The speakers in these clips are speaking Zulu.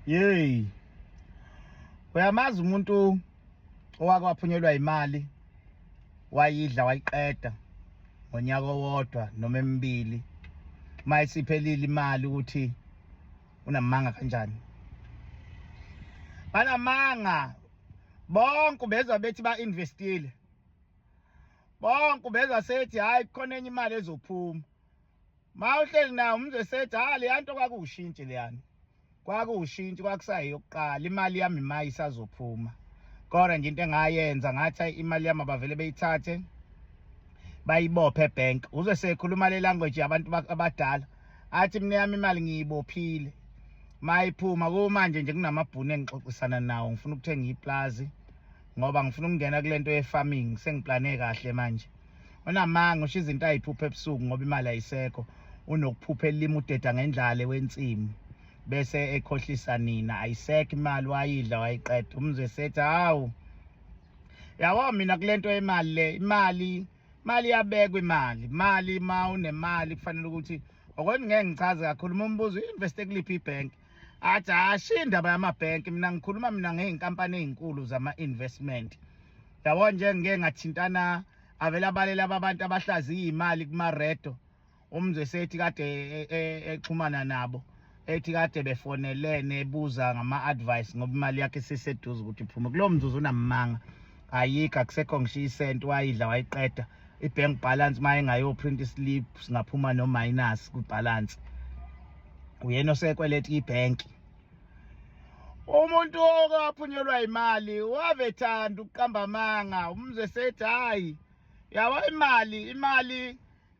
Yey. Uyamazi umuntu owake waphunyelwa imali wayidla wayiqeda ngonyaka owodwa noma emibili mayisiphelile imali ukuthi unamanga kanjani banamanga bonke bezwa bethi ba investile bonke bezwa sethi hayi khona enye imali ezophuma Ma uhleli nawo umzesethi ha leya nto kwakuwushintshi leyani kwakuwushintshi kwakusayiyokuqala imali yami mayi isazophuma kodwa nje into engayenza ngathi imali yami abavele beyithathe bayibophe ebank uze sekhuluma le language yabantu abadala athi mina yami imali ngiyibophile mayiphuma kumanje nje kunamabhunu engixoxisana nawo ngifuna ukuthenga iplazi ngoba ngifuna ukungena kule nto ye-farming sengiplane kahle manje unamanga usho izinto ayiphupha ebusuku ngoba imali ayisekho unokuphupha elima udeda ngendlala ewensimu bese ekhohlisa nina ayisekho imali wayidla wayiqeda umzwe sethi hawu yabo mina kule nto yemali le imali imali iyabekwa imali imali uma unemali kufanele ukuthi okwena ngeke ngichaze kakhulu uma umbuzo i-investe kuliphi ibhenki athi hashi indaba yamabhenki mina ngikhuluma mina ngey'nkampani ey'nkulu zama-investment yabo nje ngike ngathintana avele abalele ababantu abahlaziya imali kumaredo umzwe sethi kade e, e, exhumana nabo ethi kade befonelene ebuza ngama-advice ngoba imali yakhe iseseduze ukuthi iphume kulowo mzuzu unamanga ayikho akusekho ngisho isenti wayidla wayiqeda i-bank balance uma engayoprint islip singaphuma no-minus kwi-balance uyena osekweleta ibhenki umuntu okaphunyelwa imali wavethanda ukuqamba amanga umzwe sethi hhayi yabo imali imali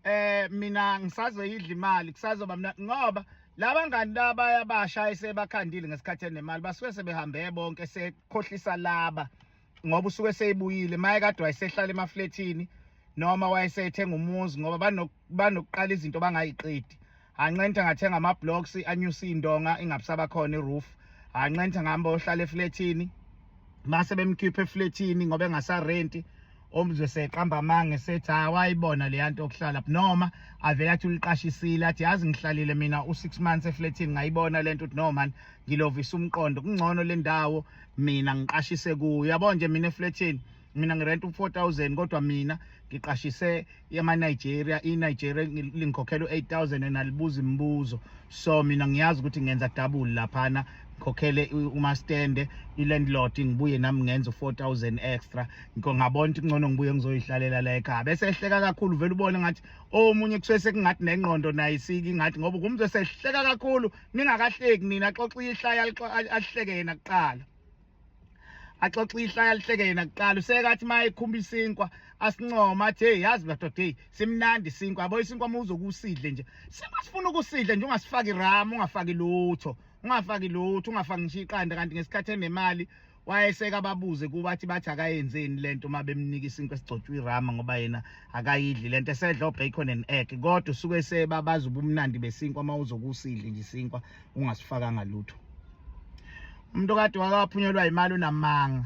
eh mina ngisazoyidla imali kusazoba mina ngoba laba ngani laba yabasha esebakhandile ngesikhathi enemali basuke sebehambeye bonke sekhohlisa laba ngoba usuke seyibuyile maye kade wayesehlala emafletini noma wayesethenga umuzi ngoba banokuqala izinto bangayiqedi anqenthe ngathenga ama-blocks anyuse iy'ndonga ingabusaba khona i-roof anqenthe ngihamba ohlala eflethini mase bemkhipha eflethini ngoba engasarenti omzwe seqamba amange sethi hayi wayibona leya nto okuhlala noma avele athi uliqashisile athi yazi ngihlalile mina u-six months eflethini ngayibona le nto ukuthi no mani ngilovisa umqondo kungcono le ndawo mina ngiqashise kuyo yabo nje mina eflethini mina ngirenta u-4000 kodwa mina ngiqashise yama-nigeria i-nigeria lingikhokhela u-8000 and alibuzi imibuzo so mina ngiyazi ukuthi ngenza double laphana ngikhokhele umastende i-landlord ngibuye nami ngenza u-4000 extra ngikho ngabona ukuthi kungcono ngibuye ngizoyihlalela la ekhaya bese ehleka kakhulu vele ubone ngathi omunye oh, kusuke sekungathi nengqondo naye isiki ngathi ngoba ngumntu esehleka kakhulu ningakahleki nina xoxa ihlaya alihleke yena kuqala axoxa ihla yalihleke yena kuqala usekathi maye khumba isinkwa asincoma athi hey yazi madoda hey simnandi isinkwa yabo isinkwa uma uzokusidle nje sima sifuna ukusidle nje ungasifaki ram ungafaki lutho ungafaki lutho ungafaki ngisho iqanda kanti ngesikhathi enemali wayeseka ababuze kuba athi bathi akayenzeni lento uma bemnika isinkwa esigcotshwa irama ngoba yena akayidli lento esedla obacon and egg kodwa usuke sebabaza ubumnandi besinkwa uma uzokusidle nje isinkwa ungasifakanga lutho umuntu kade wakaphunyelwa imali unamanga